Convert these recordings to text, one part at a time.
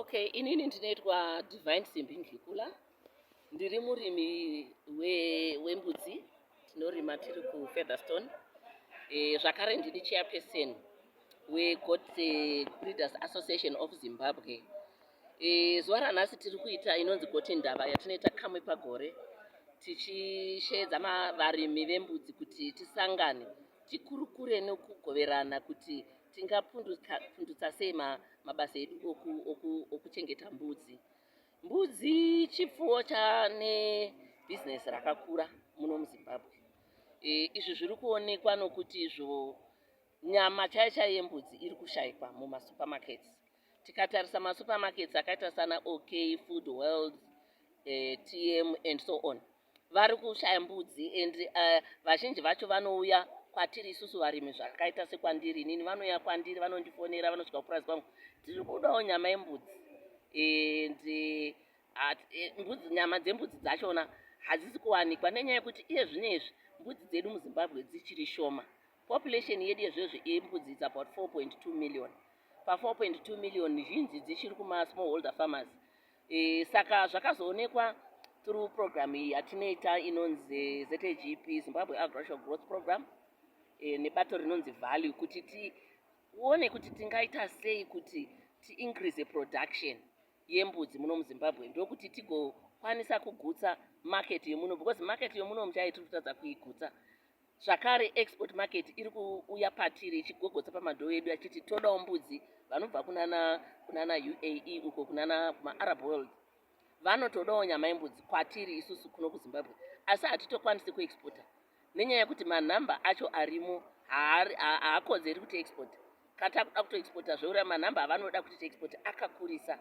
Okay, inini ndinoitwa Divine Simbi Ndlikula. Ndiri murimi wembudzi we tinorima tiri kufeatherstone e, eh, zvakare ndini chairperson wegot eh, breeders association of zimbabwe e, zuva ranhasi tiri kuita inonzi goti ndava yatinoita kamwe pagore tichisheedza varimi vembudzi kuti tisangane tikurukure nokugoverana kuti tingapundutsa sei mabasa edu okuchengeta mbudzi mbudzi chipfuwo chane bhizinesi rakakura muno muzimbabwe e, izvi zviri kuonekwa nokuti izvo nyama chaiyo chaiyo yembudzi iri kushaikwa mumasupermarkets tikatarisa masupermarkets akaita sana ok food world e, tm and so on vari kushaya mbudzi and uh, vazhinji vacho vanouya kwatiri isusu varimi zvakaita sekwandiri inini vanouya kwandiri vanondifonera vanosvika kupurazi kwangu tiri kudawo nyama yembudzi and uh, eh, mbudzi nyama dzembudzi dzachona hadzisi kuwanikwa nenyaya yekuti iye zvino izvi mbudzi dzedu muzimbabwe dzichiri shoma population yedu yezvezvi yembudzi its about 4.2 million pa 4.2 million zhinji dzichiri kumasmall holder farmers e, saka zvakazoonekwa through program iyi yatinoita inonzi zgp zimbabwe agricultural growth program e, nebato rinonzi value kuti tione kuti tingaita sei kuti tiincrease production yembudzi muno muzimbabwe ndokuti tigokwanisa kugutsa market yemuno because market yemuno muchai tiri kutadza kuigutsa Zvakare, Export Market iri kuuya patiri ichigogotsa pamadhoo edu achiti todawo mbudzi vanobva kunana UAE uko kunana kumaArab World vanotodawo nyama yembudzi kwatiri isusu kuno kuzimbabwe asi hatitokwanisi kuexporta nenyaya yekuti manhamba acho arimo haakodzeri kuti export katakuda kutoexporta zveura manhamba avanoda kuti tiexport akakurisa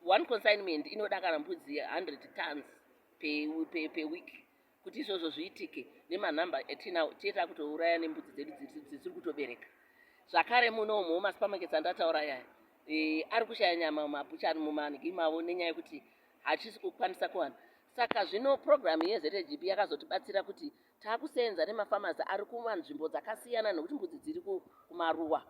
one consignment inoda kana mbudzi 100 tons peweek pe, pe Kuti izvozvo zviitike nemanumber atinawo tiye takutouraya nembudzi dzedu dzisiri kutobereka zvakare muno umo masupermarkets andataura yaya e, ari kushaya nyama mumabuchari mumangi mavo nenyaya yekuti hachisi kukwanisa kuwana saka zvino purogiramu yezvgb yakazotibatsira kuti taakuseenza nemafamasi ari kumanzvimbo dzakasiyana nekuti mbudzi dziri kumaruwa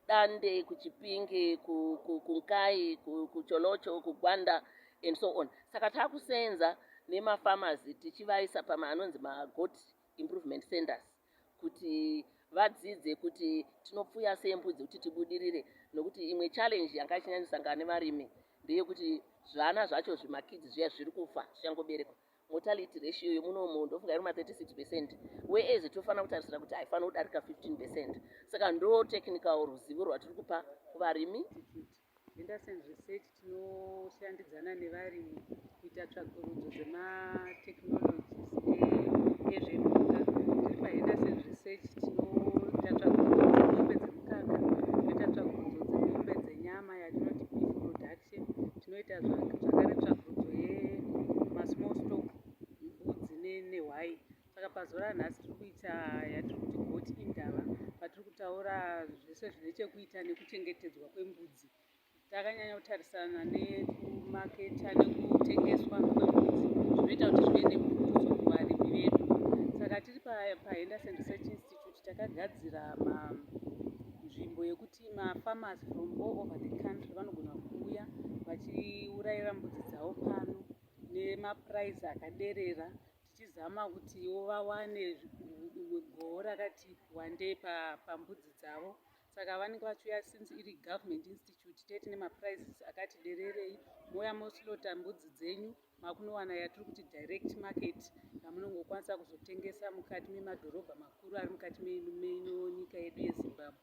Dande, kuChipinge, ku, ku, kuNkai, ku, kuCholocho, kuGwanda and so on. Saka takuseenza nemafamazi tichivaisa pama anonzi magoat improvement centers kuti vadzidze kuti tinopfuya sei mbudzi kuti tibudirire nokuti imwe challenge yanga ichinyanyosangana nevarimi ndeyekuti zvana zvacho zvimakidzi zviya zviri kufa zvichangoberekwa mortality ratio yemunomo ndofunga iri ma 36 percent whereas tofanira kutarisira kuti haifanira kudarika 15 percent saka ndo technical ruzivo rwatiri kupa kuvarimi Henderson Research tinoshandidzana nevarimi kuita tsvakurudzo dzematechnologies ezvemuka tiri pahenderson research tinoita tsvakurudzo dzemombe dzemukaka toita tsvakurudzo dzemombe dzenyama yatinoti beef production tinoita zvakare tsvakurudzo yemasmall stock mbudzi nehwai saka pazuva ranhasi tiri kuita yatiri kuti goti indava patiri kutaura zvese zvine chekuita nekuchengetedzwa kwembudzi takanyanya kutarisana nekumaketa nekutengeswa kwembudzi zvinoita kuti zvive nembudzo kuvarimi vedu saka tiri pahenderson research institute takagadzira nzvimbo yekuti Vati mafarmers from all over the country vanogona kuuya vachiurayira mbudzi dzavo pano nemaprize akaderera tichizama kuti ivo vawane goho rakati wandei pambudzi dzavo saka vanenge vachiuya since iri government institute tete nemaprizes akati dererei mouya moslota mbudzi dzenyu makunowana yatiri kuti direct market yamunongokwanisa kuzotengesa mukati memadhorobha makuru ari mukati meino nyika yedu yezimbabwe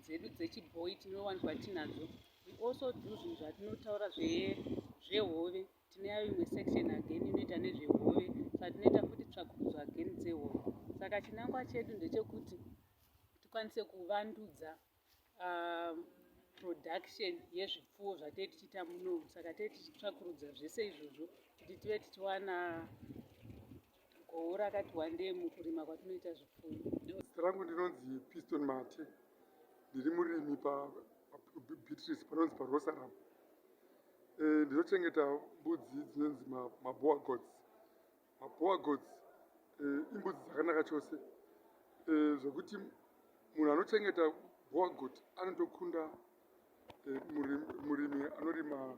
dzedu dzechibhoyi tinowanikwa tinadzo we also do zvinhu zvatinotaura zvehove tinayo imwe section again inoita nezvehove saka tinoita futi tsvakurudzo again dzehove saka chinangwa chedu ndechekuti tikwanise kuvandudza um, production yezvipfuwo zvatee tichiita muno saka tee tichitsvakurudza zvese izvozvo kuti tive tichiwana Goho rakati wandei mukurima kwatinoita zvipfuyo. Zita rangu ndinonzi Piston Mate. Ndiri murimi paBeatrice panonzi paRosaram. Eh, ndinochengeta mbudzi dzinonzi maboa gods. Maboa gods eh, imbudzi dzakanaka chose eh, zvekuti munhu anochengeta boa god anotokunda murimi anorima